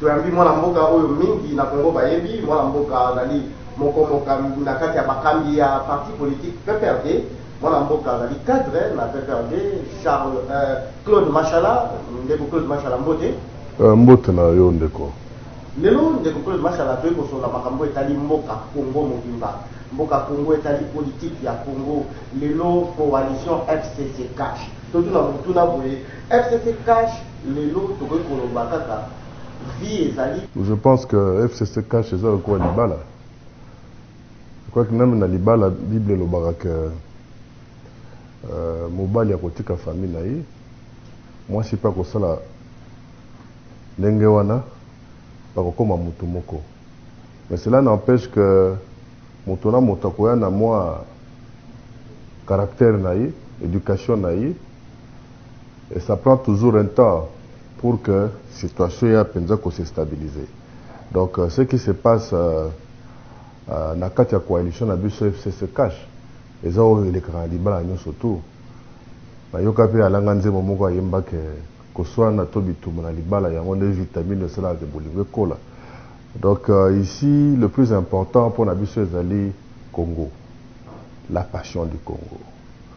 Toyambi mwana mboka oyo mingi na Congo bayebi. Mwana mboka azali moko mokambi na kati ya bakambi ya parti politique PPRD. Mwana mboka azali cadre na PPRD. Charles, euh, Claude Mashala, ndeko Claude Mashala, mbote. Euh, mbote na yo ndeko. Lelo ndeko Claude Mashala toyei kosolola makambo etali mboka Congo mobimba. Mboka Congo etali politique ya Congo. Lelo coalition FCC Cash. Totuna motuna boye, FCC Cash Lelo tokoki koloba kaka vie ezali. Je pense que FCC cash eza lokola libala. Je crois que meme na libala bible elobaka que euh, mobali akotika famille na ye, mwasi pe akosala ndenge wana, bakokoma mutu moko. Mais cela n'empêche que moto na moto akoya na mwa caractère na ye, education na ye, Et ça prend toujours un temps pour que situation eya penza ko se stabiliser. Donc euh, ce qui se passe euh, euh, na kati ya coalition na biso FCC Cash eza oyo elekaka na libala nyonso tout. Nayoka pe alanga nzembo moko ayemba ke koswana to bitumba na libala yango nde vitamine esalaka ke bolingo ekola. Donc euh, ici le plus important mpo na biso ezali Congo, la passion du Congo.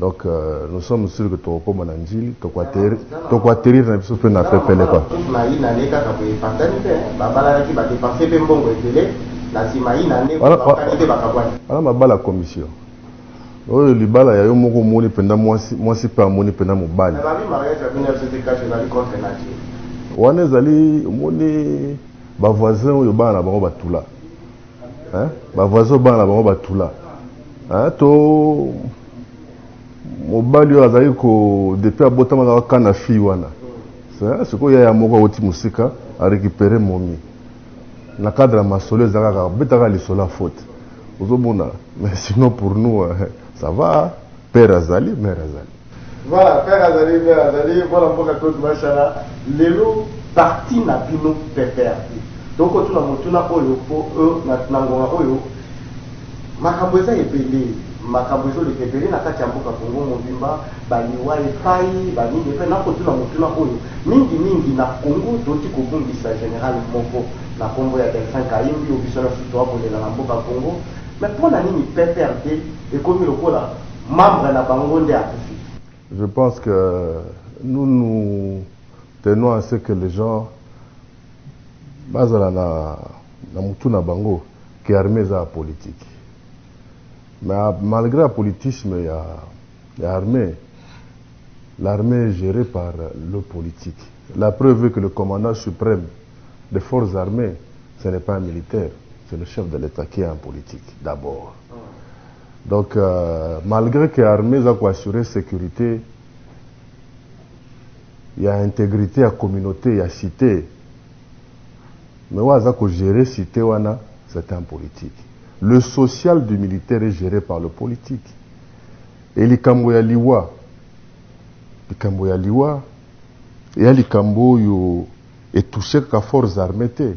Donc euh, nous sommes sûrs que tokokoma na njili tokoaterir na biso mpe na pepele kwa maina ne kaka boye patani mpe babalalaki badepanse mpe mbongo ebele na nsima ina ne bakani mpe bakabwani wana mabala commission oyo libala ya yo moko omoni mpenza mwasi mwasi mpe amoni mpenza mobali wana ezali omoni bavoisin oyo bana na bango batula Hein? Ba voisins obanga na bango batula. Hein? To mobali oyo azali ko depuis abotama azalaka kaka na fille wana. Hein? Sikoyo yaya moko awuti mosika a récupérer momi. Na cadre ya masolo ezalaka kaka betaka lisolo ya faute. Ozomona? Mais sinon pour nous hein, ça va, père azali, mère azali. Voilà père azali père azali mwana mboka claude mashala lelo parti na bino pprd tokotuna motuna oyo po euh, na, na ngonga oyo makambo eza ebele makambo ezoleka ebele na kati ya mboka kongo mobimba baliwa epai banini epai nakotuna motuna oyo mingi mingi na kongo toti kobungisa general moko na nkombo ya delfin kaimbi obiso na susu akolela na mboka kongo me mpo na nini pprd ekomi lokola Membre na bango nde akufi. Je pense que nous nous tenons à ce que les gens bazala na, na mutu na bango que armée eza ya politique mais malgré ya politisme ya, ya armée l'armée est gérée par le politique la preuve est que le commandant suprême des forces armées ce n'est pas un militaire c'est le chef de l'état qui est un politique d'abord Donc euh, malgré que armée eza ko assurer sécurité ya intégrité ya communauté ya cité mais oyo aza ko gérer cité wana c'est un politique le social du militaire est géré par le politique et likambo ya liwa likambo ya liwa eya likambo oyo etouche kaka forces armées te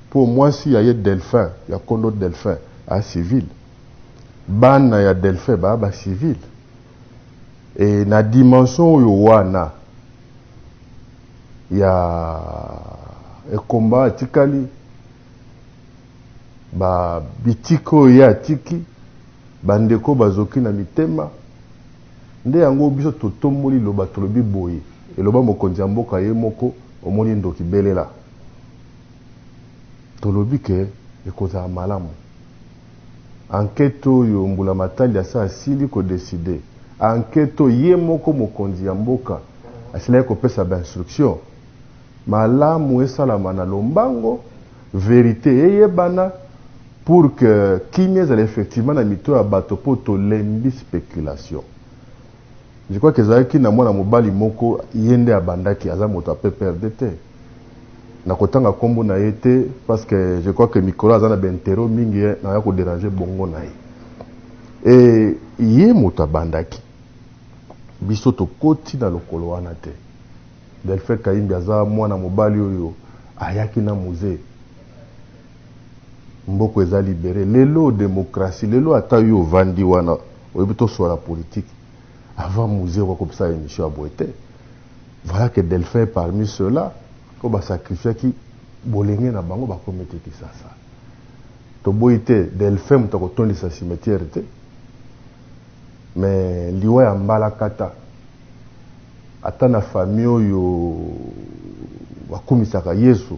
mpo mwasi ya ye delphin ya kondo delphin a civile Bana ya Delphin ba ba civil et na dimension oyo wana ya ekomba atikali ba bitiki oyo ye atiki bandeko bazoki na mitema nde yango biso totomboli loba tolobi boye eloba mokonzi ya mboka ye moko omoni ndoki belela tolobi ke ekozala malamu Enquete oyo mbulamatali ya se asili ko decider. Enquete oyo ye moko mokonzi ya mboka asilaki kopesa ba instructions. Malamu esalama na lombango, verite eyebana pour que kimia ezala effectivement na mito ya bato mpo tolembi speculation. Je crois que ezalaki na mwana mobali moko ye nde abandaki aza moto ya PPRD te nakotanga kombo na ye te parce que je crois que mikolo aza na ba intero mingi naya ko deranger bongo na ye et ye moto abandaki biso tokoti na lokolo wana te Delphin Kayimbi aza mwana mobali oyo ayaki na musee Mboko eza libere lelo democratie lelo ata yo ovandi wana oyebi toswala politique avant muze okoki kopesa emission ya boye te voilà que Delphin est parmi cela oyo ba sacrifiaki bolenge na bango bakomi te Kisasa toboyi te Delphin moto akotondisa cimetière te mais liwa ya mbalakata ata na famille oyo bakumisaka Yesu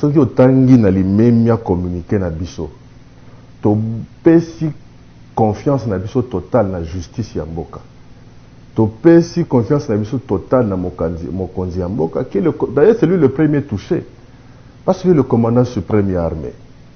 Soki otangi na limemia communique na biso, topesi confiance na biso totale na justice ya mboka. Topesi confiance na biso totale na mokanzi, mokonzi ya mboka qui est le, d'ailleurs c'est lui le premier touche, parce que le commandant supreme ya armee.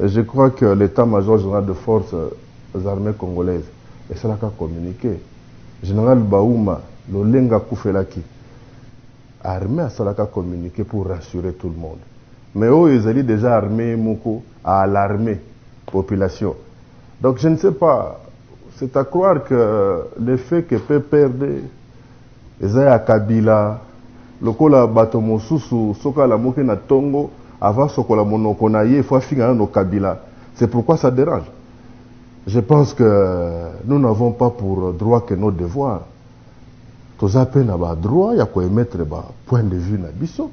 Et je crois que l'Etat major general de forces armees congolaises esalaka communique. General Bauma lolenge akufelaki, armee asalaka communique pour rassurer tout le monde. Mais oyo ezali dejà armee ye moko a alarmer population. Donc je ne sais pas, c'est à croire que le fait que PPRD Eza ya kabila lokola bato mosusu soki alamuki na tongo avant asokola monoko na ye il faut afinga nano kabila c'est pourquoi ça derange je pense que nous n'avons pas pour droit que nos devoirs toza pe na ba droit ya ko emettre ba point de vue na biso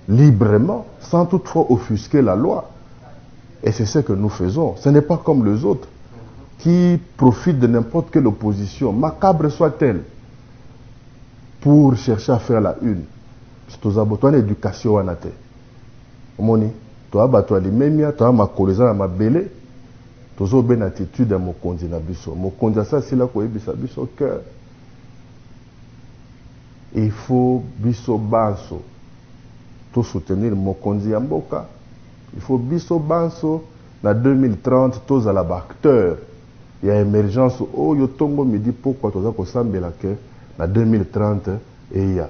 librement sans toutefois offusquer la loi Et c'est ce que nous faisons. Ce n'est pas comme les autres qui profitent de n'importe quelle opposition, macabre soit-elle, pour chercher à faire la une. toza bato wana éducation wana te omoni toza bato ya limemia toza makolo eza na mabele tozobe na attitude ya mokonzi na biso mokonzi asi asila koyebisa biso que il faut biso banso tosoutenir mokonzi ya mboka Il faut biso banso na 2030 tozala ba acteurs ya emergence oyo tongo midi pokwa toza kosambela que na 2030 eya.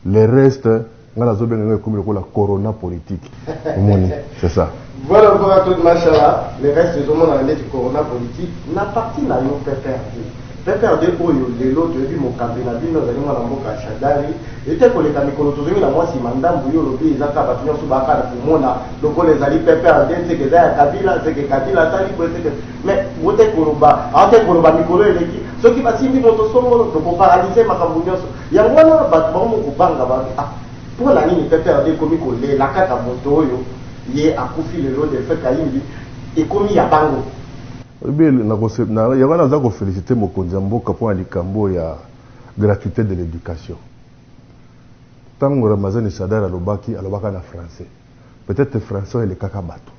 Le reste nga nazobenga yango ekomi lokola corona politique omoni c'est ça. Voilà encore un truc mashallah le reste ezomonana ndeti corona politique na parti nayo pprd. PPRD oyo lelo toyebi mokambi na bino azali mwana mboka Shadary ete koleka mikolo tozongi na mwa sima ndambu yo olobi eza kaka batu nionso baya kaka na komona lokola ezali PPRD seke eza ya Kabila seke Kabila asali boye seke mais bote koloba aote koloba mikolo eleki soki basimbi moto songolo toko paralyse makambo nionso yango wana bato bango mokobanga babi ah mpo na nini PPRD ekomi kolela kaka moto oyo ye akufi lelo Delphin Kayimbi ekomi ya bango Oyebi yango wana naza ko feliciter mokonzi ya mboka pona likambo oyo ya gratuite de l'education. Tango Ramazani Shadary alobaki, alobaka na français. Peut etre français wana elekaka batu.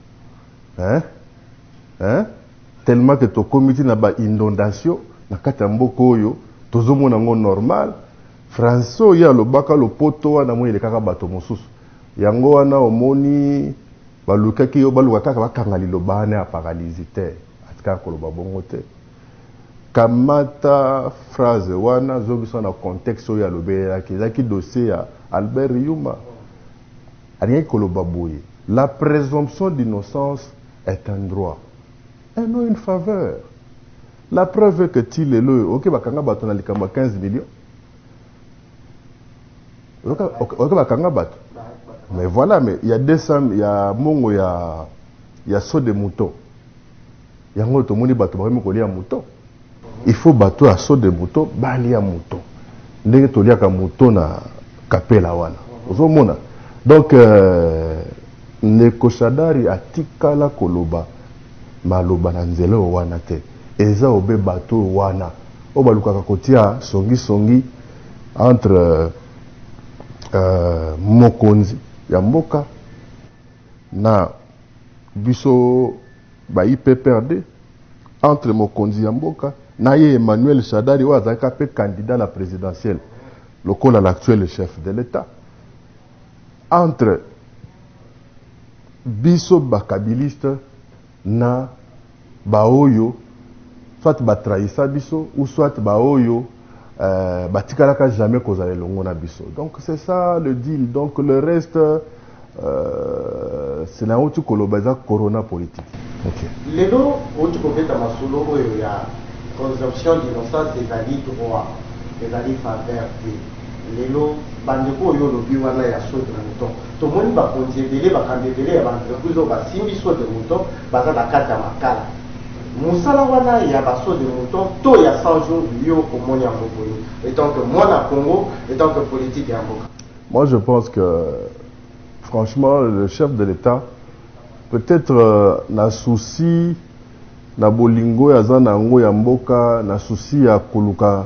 Hein? Hein? Tellement que tokomi ti na ba inondations na kati ya mboka oyo, tozomona yango normal. Français oyo ye alobaka, lopoto wana, namoni elekaka batu mosusu. Yango wana omoni balukaki yo baluka kaka bakanga liloba wana ya paralysie te atikaka koloba bongo te kamata phrase wana zongisa na contexte oyo alobelelaki ezalaki dossier ya Albert Yuma alingaki koloba boye la presomption d'innocence est un droit et non une faveur la preuve est que ti lelo oyo oke bakanga bato na likambo ya 15 millions oyoka bakanga bato mais voilà mais ya 200 ya mongo ya ya saut de mouton yango oyo tomoni bato bakomi kolia mouton il faut bato ya saut de mouton balia mouton ndenge toliaka mouton na kapela wana ozomona donc euh, Ndeko shadary atikala koloba maloba na nzela oyo wana te eza obe batu oyo wana oyo balukaka kotia songi songi entre mokonzi ya mboka na biso ba UPPRD entre mokonzi ya mboka na ye Emmanuel shadary oyo azalaka pe candidat na presidentielle lokola l'actuel chef de l'etat. entre biso ba kabiliste na ba oyo soit ba trahissa biso ou soit ba oyo euh, batikalaka jamais kozala elongo na biso donc c'est ça le deal donc le reste euh, c'est na outi koloba eza corona politique okay. lelo outi kobeta masolo oyo ya consomption d'innocence ezali droit ezali faveur te Lelo bandeko oyo olobi wana ya saut de mouton tomoni bakonzi ebele bakambi ebele ya ba entreprise oyo basimbi saut de mouton baza na kati ya makala musala wana ya ba saut de mouton to ya 100 jours yo omoni yango boni etant que mwana congo etant que politique ya mboka Moi, je pense que, franchement, le chef de l'État, peut-être euh, na souci na bolingo ya zana yango ya mboka, na souci ya koluka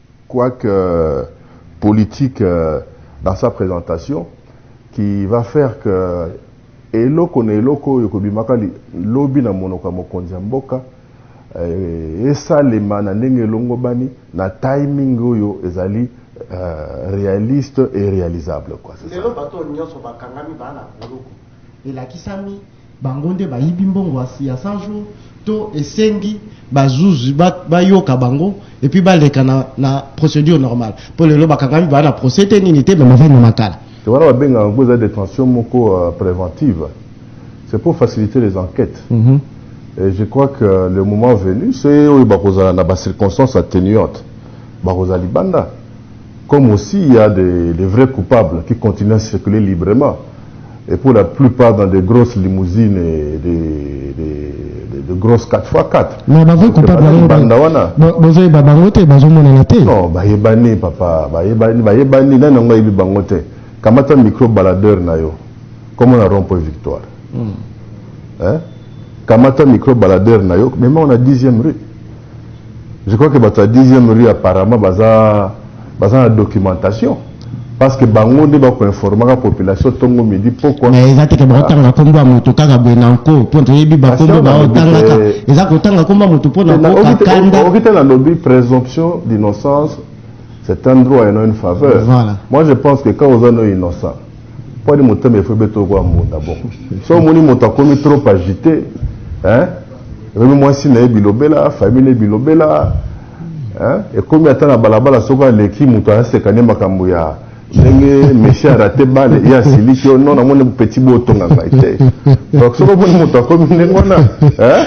quoique politique dans sa presentation qui va faire que eloko na eloko oyo ekobimaka lobi na monoko ya mokonzi ya mboka eh, esalema na ndenge elongobani na timing oyo ezali euh, realiste et réalisable quoi, lelo bato nyonso bakangami baa na boloko elakisami Bango nde bayibi mbongo ya 100 jours to esengi bazuzi bayoka bango et puis baleka na, na procédure normale mpo lelo bakangami baa na procès te nini te me bavandi na makala te wana babengaka yango eza détention moko euh, préventive c'est pour faciliter les enquêtes mm -hmm. et je crois que le moment venu c'est oyo bakozala na bacirconstances atténuantes bakozala libanda Comme aussi il y'a des des vrais coupables qui continuent à circuler librement et pour la plupart dans des grosses limousines et des des des grosses 4x4. Mais ba vrais coupables Bana yango libanda ba- wana. ba- bozoyeba bango te bazomonana te Non, bayebani papa, bayebani, bayebani nani yango ayebi bango te. Kamata micro baladeur na yo. Comment na rond-point victoire. Hein? Kamata micro baladeur na yo, mema on a 10e rue. Je crois que bato ya 10e rue apparemment baza baza na documentation parce que bango nde bakoinformaka population ntongo midi pokwa mais eza te ke bakotanga nkombo ya moto kaka boye na nko mpo toyebi bankombo baotangaka eza kotanga nkombo ya moto mpo na kokakanda te nalobi présomption d'innocence c'est un droit et non une faveur voilà. moi je pense que quand oza no innocent Pwadi motema efo ebeta lokola mbunda bon. So omoni moto akomi trop agité, hein? Omoni mwasi na ye bilobela, famille na bilobela, hein? Ekomi ata na balabala soko aleki moto aseka nde makambo ya ndenge Messi a raté balle ye asiliki yo non namoni petit bo otonga ngai te. Donc soko omoni moto akomi ndenge wana, hein?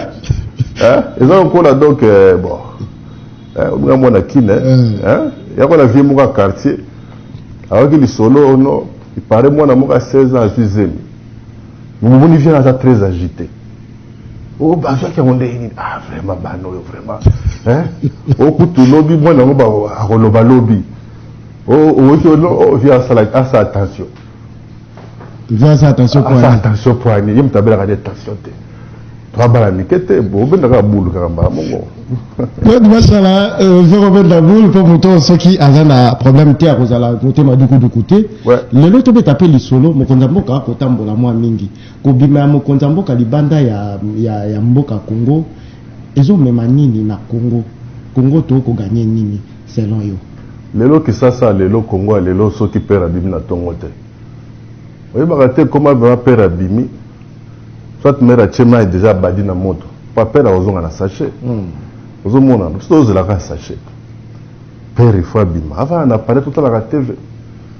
Hein? Eza lokola donc euh, bon. Eh, olinga mwana kine mm. eh? yako na vie moko ya quartier ayoki lisolo ono ipare mwana moko ya 16 ans azwi zemi momoni viana aza très agité o oh, bazwaki yango ndenge nini ah vraiment bana oyo vraiment eh? okutu oh, lobi mwana yango akoloba lobi oyoki oh, ono via asala attention Vieux asa attention poignée. Asa attention poignée. Yem tabela ka attention te. Toi bala mikete bo benda ka bulu ka mbala mongo. Donc masala euh, zero benda bulu po moto soki aza na problème te akozala motema duku duku te. Lelo to beta pe lisolo mokonza mboka ko tambola mwa mingi. Ko bima ya mokonza mboka libanda ya ya, ya mboka Congo ezo mema nini na Congo? Congo to ko gagner nini? selon yo? Lelo kisasa ya lelo congo ya lelo soki pere abimi na tongo te oyebaka te comment vraiment pere abimi soit mere atie mai deja abadi na moto pa pere akozonga na sachet hmm. ozomona biso tozelaka sachet pere ifo abima avana na palais totalaka tv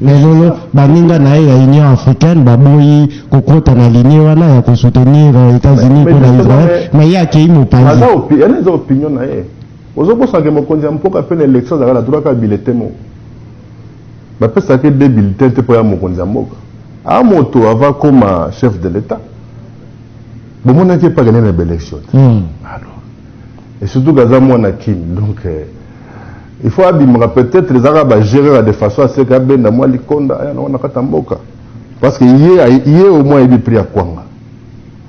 Mais lelo baninga na ye ya Union africaine baboyi kokota na ligne wana ya kosoutenir euh, Etats-Unis mpo na Israël, mais ye akei mopanzi. Yana eza opinion na ye. Ozokosanake mokonzi ya mpoka mpe na election azalaka na droit kaka bilete moko. Bapesaka ye de bilete te mpo ya mokonzi ya mboka. A moto ava koma chef de l'Etat. Bomonaki epaka nene na baelection te. Hmm. Alors, et surtout kaza mwana Kin, donc euh, Il faut abimaka peut etre eza kaka ba jeux kaka de façon à ce que abenda mwa likonda aya na wana kata mboka parce que ye ye au moins ayebi prix ya kwanga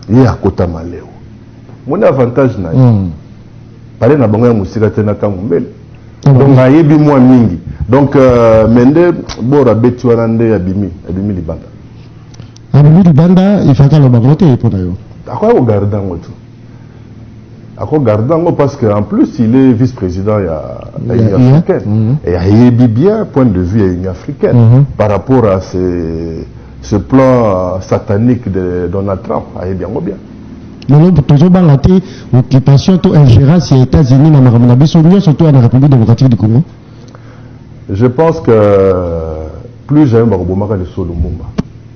ye akota maleo moni avantage na ye mm. pale na bango ya mosika te na ntango mbele mm. donc ayebi mwa mingi donc euh, me nde bora abeti wana nde abimi abimi libanda abimi libanda ifaka aloba ngo te ye mpo na yo akoya kogarde yango tu ako garde yango parce que en plus il est vice président ya ya union africaine mhm. et ayebi bien point de vue ya union africaine mhm. par rapport à ce, ce plan satanique de donald trump ayebi yango bien lelo tozobanga te occupation to ingérence ya états-unis na makambo na biso nyonso to ya na république démocratique du congo je pense que plus jamais bakobomaka lisolo mumba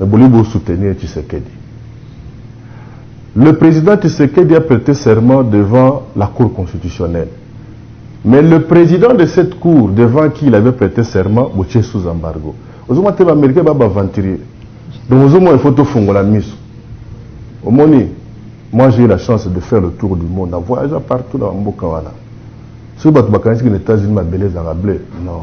Mais bolingi bo soutenir Tshisekedi. Le president Tshisekedi a prete serment devant la cour constitutionnelle. Mais le president de cette cour devant qui il avait prete serment botie sous embargo. Ozomona te ba Americains ba baventurier. Donc ozomona il faut tofungola miso. Omoni, moi j'ai eu la chance de faire le tour du monde en voyageant partout na mboka wana. Soki bato bakanisiki na Etats-Unis mabele ezalaka bleu, non.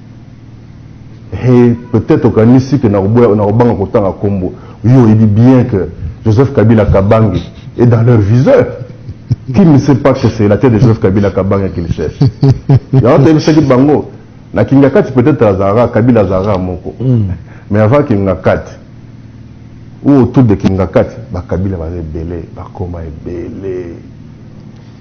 He, peut-etre okanisi que nakoboya, nakobanga kotanga kombo. Yo oyebi bien que Joseph Kabila Kabange est dans leur viseur. Qui ne sait pas que c'est la tete de Joseph Kabila Kabange qu'ils cherchent? Yango toyebisaki bango, na Kingakati peut-etre azalaka, Kabila azalaka moko. Mais avant Kingakati, ou autour de Kingakati, ba Kabila baza ebele, bakoma ebele.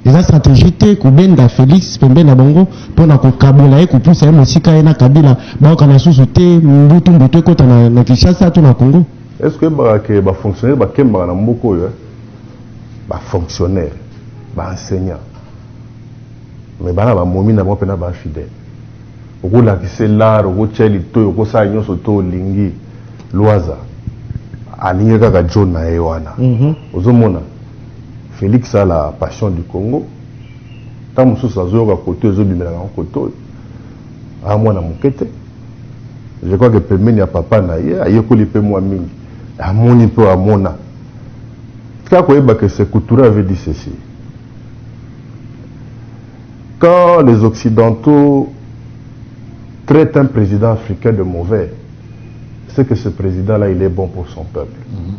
Eza strategie te kobenda Felix pembeni na bango mpo na kokabola ye kopusa ye mosika ye na Kabila baokana lisusu te mbutu mbutu ekota na, na Kinshasa to na Congo. Est ce que oyebaka ke ba fonctionnaires bakembaka na mboka oyo eh? Ba fonctionnaires, ba enseignants, mais bana ba momi na bango pena ba infidèles. Okolakisa ye l'art, okotia ye litoyi, okosala nyonso to olingi, Luaza alingi kaka John na ye wana. Ozomona? Felix a la passion du Congo tango mosusu azoyoka koto ezobimelaka yango koto oyo aa mwana moke te je crois que pembeni ya papa na ye ayekoli mpe mwa mingi amoni mpe oyo amona tika koyeba que se couture avait dit ceci quand les occidentaux traitent un président africain de mauvais c'est que ce président là il est bon pour son peuple mm -hmm.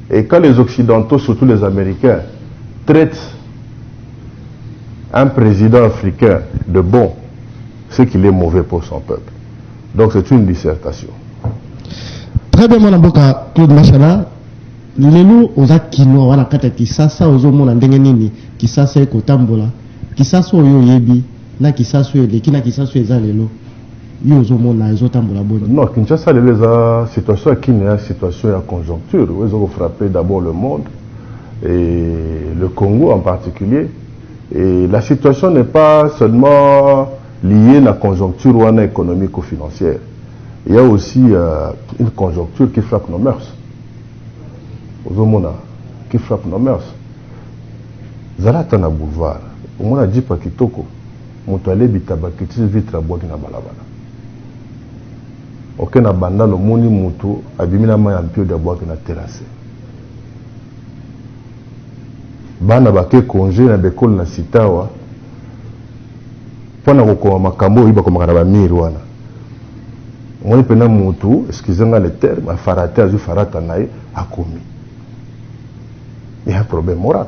Et quand les occidentaux, surtout les Americains, traitent un président africain de bon, c'est qu'il est mauvais pour son peuple. Donc c'est une dissertation. Très bien, mon avocat Claude Machala. lelo oza kinoa wana kati ya kisasa ozomona ndenge nini kisasa ekotambola kisasa oyo oyebi na kisasa oyo eleki na kisasa oyo eza lelo yo ozomona ezotambola boni non kinshasa lelo eza situation ya kine ya situation ya conjoncture oyo eza kofrappe d'abord le monde et le congo en particulier et la situation n'est pas seulement liée na conjoncture wana économique ou financière il y a aussi euh, une conjoncture qui frappe nos mœurs ozomona qui frappe nos mœurs zala ata na boulevard omona jipa kitoko Moto alie bitaba akitisi vitre abuaki na balabala. Oke na bandal omoni moto abimi na mayi ya mpiodi abuaki na terrasse. Bana bake conge na b'ecoles na Sitawa pona kokoma makambo oyo bakomaka na ba mur wana. Omoni pena moto, excusez nga le terme, afarate azui farata na ye akomi. Il y'a un problème moral.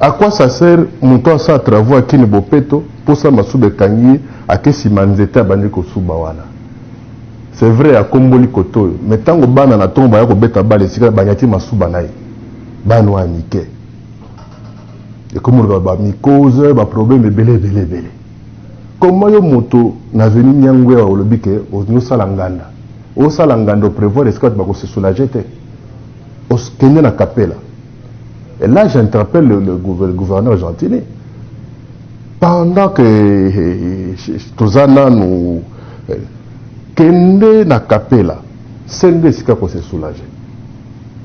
A quoi ça sert moto asala travaux ya kini bopeto posa masuba ekangi ye ake sima nzete abandi kosuba wana c'est vrai akomboli cote oyo mais tango bana na tongo baya kobeta bale esika banyati masuba naye bana oyo ya mike ekomi lokola ba micose ba problème ebele ebele ebele comment yo moto na avenue Niangwea olobi ke osala nganda osala nganda o prevoir esika bato bakosesoulager te Os kende na capella. Et là, j'interpelle le, le, le, gouverneur Gentini. Pendant que eh, eh, eh, Tozana nous. Kende na capella. Sende esika ko se soulager.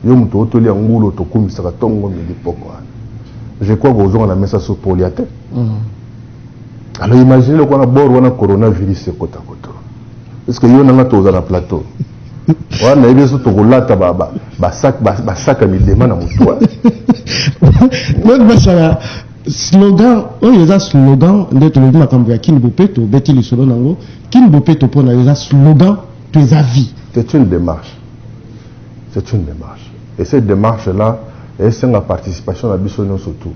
Yo moto otoli ya ngulo tokumisaka tongo midi poko wana. Je crois kozonga na mesa so polia te. Mm. Alors imaginez le kona bord wana coronavirus ekota kota. Est-ce que yo nanga toza na plateau? wana nayebi biso tokolata basaka midema na motu wana basala slogan oyo eza slogan nde tolobi makambo ya kini bopeto obeti lisolo nango kini bopeto mpo na yo eza slogan to eza vie c'est une démarche c'est une démarche et cette démarche là esenga participation na biso nyonso tout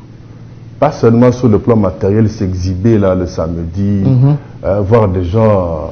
pas seulement sur le plan matériel s'exhiber là le samedi mm -hmm. euh, voir des gens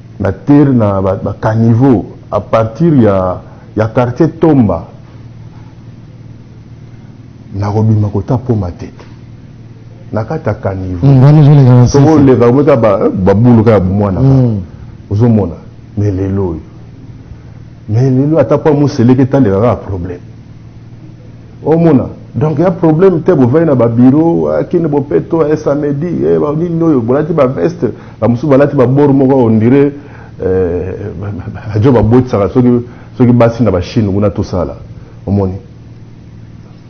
Na terre na ba caniveaux à partir ya ya quartier Tomba nako bima kota po matete na kati ya caniveau hmm, soko oleka omeka eh, babulu kaka bomwana kaka hmm. ozomona me lelo oyo me lelo ata po amoseleke taleka kaka problème Omona donc ya problème te bovai na ba bureau ah, kini bopeto eh, samedi eh, nini oyo bolati ba veste bamosusu balati babor moko ondire ajo babotisaka soki soki basi na bachine kuna tosala omoni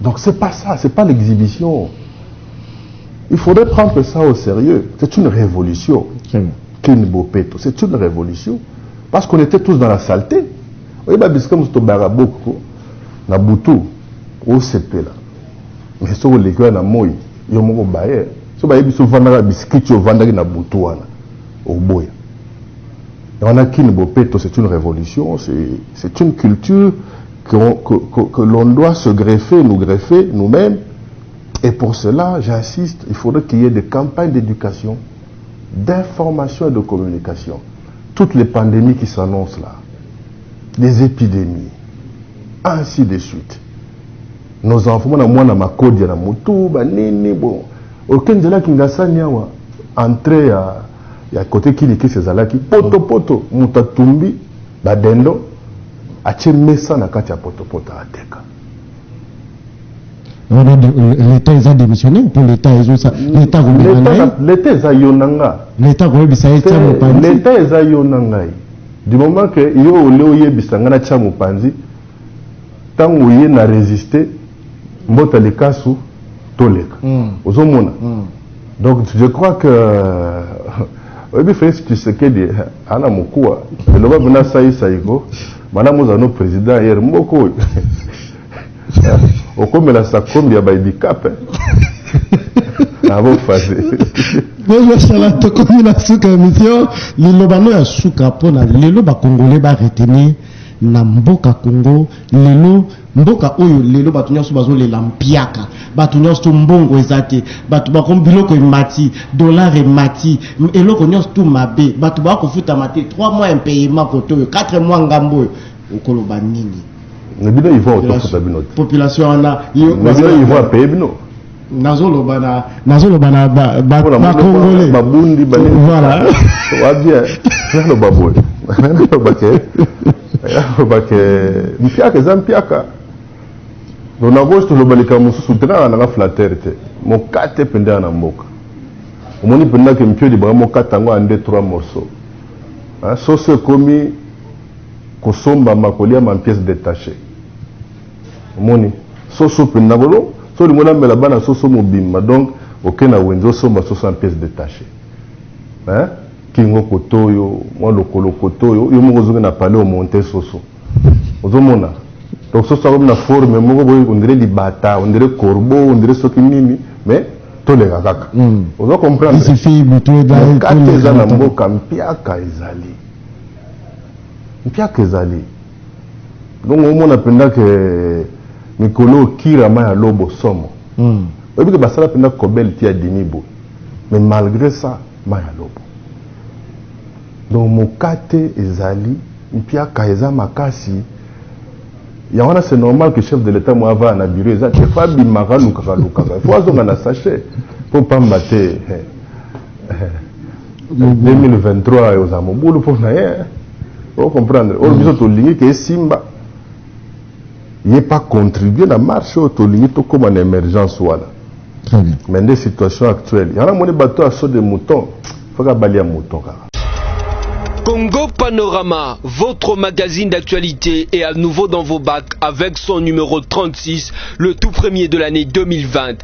donc c'est pas ça c'est pas l'exhibition il faudrait prendre ça au sérieux c'est une révolution kini bopeto c'est une révolution parce qu'on était tous dans la saleté Oyeba bisika mosusu tobaka boko na butu osepela mais soki oleki wana na moi yo moko baye so bayebi biso ovandaka bisikiti ovandaki na butu wana oboya yango na kini bopeto c'est une révolution c'est une culture que, que, que, que l'on doit se greffer nous greffer nous-mêmes et pour cela j'insiste il faudrait qu'il y ait des campagnes d'éducation d'information et de communication Toutes les pandemies qui s'annoncent là, des epidemies, ainsi de suite. Nos enfants, mwana mwana makodia na mutu, ba nini, bon. Oke nzela kingasani awa, entrée ya, ya kote kilikisi ezalaki, poto poto, mutu atumbi, ba dendo, atie mesa na kati ya poto poto ateka. leta eza démissionné mpo leta ezosa leta akomema na ye leta eza yo na nga leta akoyebisa ye tia mopanzi leta eza yo na ngai du moment que yo ole oyebisa ngai natia mopanzi ntango oye na résiste mbota likasu toleka mm. ozomona mm. donc je crois que oyebi felix tshisekedi ana mokuwa eloba mpena saisai ko Madame oza no president hier mboko oyo okomela sakombi ya baidikape abofase bozosala tokomi na suka ya misio liloba no ya suka mpo na lelo bakongole baretenir na mboka congo lelo Mboka oyo lelo batu nionso bazo lela mpiaka, batu nionso tout mbongo eza te, batu bako biloko emati, dollars emati, eloko nionso tout mabe, batu ba kofutama te, trois mois impayement kote oyo, quatre mois ngambo oyo, okoloba nini? Mais bino ivoire to futa bino te. Population wana yo. Mais bino ivoire apaye bino? nazoloba na nazoloba na bakongole babundi voilà wabia naloba boye naloba ke naloba ke mpiaka eza mpiaka do na gauche toloba likambo mosusu te kaka nanga flateur te mokate mpendaa na mboka omoni mpenza ke mpio libaka mokate yango ya nde trois morceau soso ekomi kosombama kolia ma pièce détachée Omoni soso pe nakolo so olingo na mela bana soso mobimba donc oke na wenze osomba soso en pièce detache hein kingo kotoyo mwa lokolo kotoyo yo moko ozoki na palais o monte soso ozo mona donc soso akomi na forme moko boye on dirait libata on dirait corbeau on dirait soki nini mais toleka kaka mm. ozo comprendre mokate eza na mboka mpiaka ezali mpiaka ezali Donc omona mpenza ke mikolo oyo kira mai ya lobo somo mm. oyebi ke basala mpenza kobele ti ya dimi boye mais malgré ça mai ya lobo donc mokate ezali mpiaka eza makasi yango wana c'est normal que chef de l'état mo avaya na bureau eza te fo abimaka alukaka alukaka fo azonga na sachet mpo pamba te 2023 oza mobulu mpo na ye o comprendre oyo biso tolingi ke esimba ye pa contribue na marche oyo tolingi tokóma na émergence wana mais nde situation actuelle yango namoni bato ya saut de mouton faka balia mouton kaka Congo Panorama, votre magazine d'actualité est à nouveau dans vos bacs avec son numéro 36, le tout premier de l'année 2020.